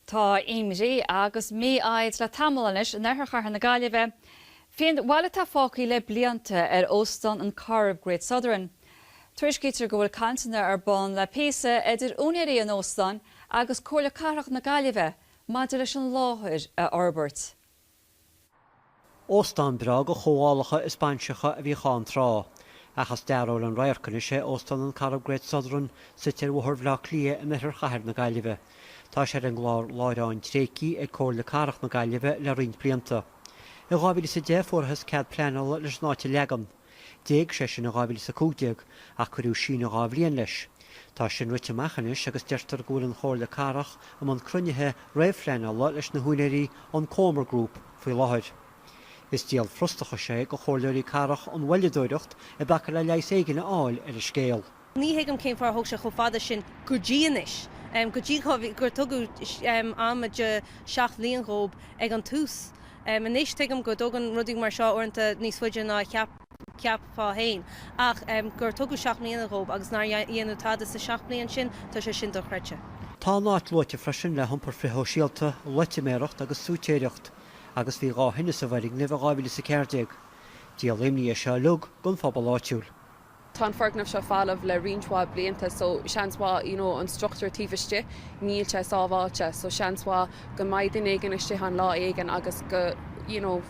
Tá imní agus mífhoighid le tamall anois in oirthear chathair na Gaillimhe faoin bhail atá fágtha le blianta ar Óstán an Corrib Great Southern. Tuairiscítear go bhfuil cainteanna ar bun le píosa idir úinéirí an óstáin agus Comhairle Cathrach na Gaillimhe maidir leis an láthair a fhorbairt. Óstán breá do chomhdhálacha is bainseacha a bhíodh ann tráth, ach is dearóil an radharc anois é, Óstán an Corrib Great Southern suite ar Bhóthar Bhleá Cliath in oirthear chathair na Gaillimhe. Tá sé ar an gClár Láithreán Tréigthe ag Comhairle Cathrach na Gaillimhe le roinnt blianta. I 2010 fuarthas cead pleanála leis an áit a leagan. D'éag sé sin in 2015, ach cuireadh síneadh dhá bhliain leis. Tá sin rite amach anois agus deirtear go bhfuil an Chomhairle Cathrach i mbun cruinnithe réamhphleanála leis na húinéirí an Comer Group faoi láthair. Is díol frustrachais é do Chomhairleoirí Cathrach an mhoilleadóireacht a bhaineas le leigheas éigin a fháil ar an scéal. Ní thuigim cén fáth ar thóg sé chomh fada sin go dtí anois, go dtí gur tugadh am de sheacht mbliain dhób ag an tús. Anois tuigim go dtógann rudaí mar seo uaireanta níos faide ná a cheapfá féin, ach gur tugadh seacht mbliana dhób agus nár dhéanadh tada sa seacht mbliain sin, tá sé sin dochreidte. Tá an áit luaite freisin le hiompar frithshóisialta, loitiméireacht agus suitéireacht, agus bhí dhá thine sa bhfoirgneamh in 2014. Díol imní é seo uilig don phobal áitiúil. Tá an foirgneamh seo falamh le roinnt mhaith blianta so seans mhaith, you know, an struchtúr taobh istigh, níl sé sábháilte so seans mhaith go mbeidh duine éigin istigh ann lá éigin agus go, you know,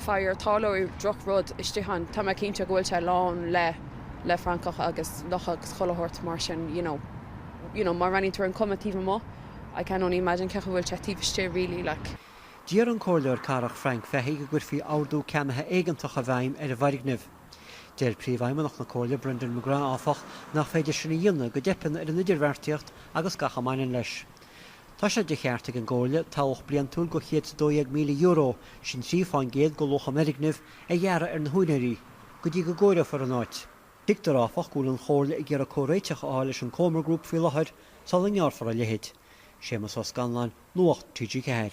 fire, tarlóidh droch rud istigh ann. Tá mé cinnte go bhfuil sé lán le, le francaigh agus lucha agus chuile shórt mar sin, you know. You know, má bhreathnaíonn tú ar an cuma taobh amuigh, I can only imagine cé chaoi bhfuil sé taobh istigh really like. D'iarr an Comhairleoir Cathrach Frank Fahy go gcuirfí ordú ceannaithe éigeantach i bhfeidhm ar an bhfoirgneamh. Deir Príomhfheidhmeannach na Comhairle, Brendan McGrath, áfach, nach féidir sin a dhéanamh go dteipeann ar an idirbheartaíocht agus gach a mbaineann leis. Tá sé de cheart ag an gComhairle tobhach bliantúil de €112,000, sin trí faoin gcéad de luach an fhoirgnimh, a ghearradh ar na húinéirí, go dtí go gcóireofar an áit. Tuigtear, áfach, go bhfuil an Chomhairle ag iarraidh comhréiteach a fháil leis an Comer Group faoi láthair sula ngearrfar a leithéid. Séamus Ó Scanláin, Nuacht TG4.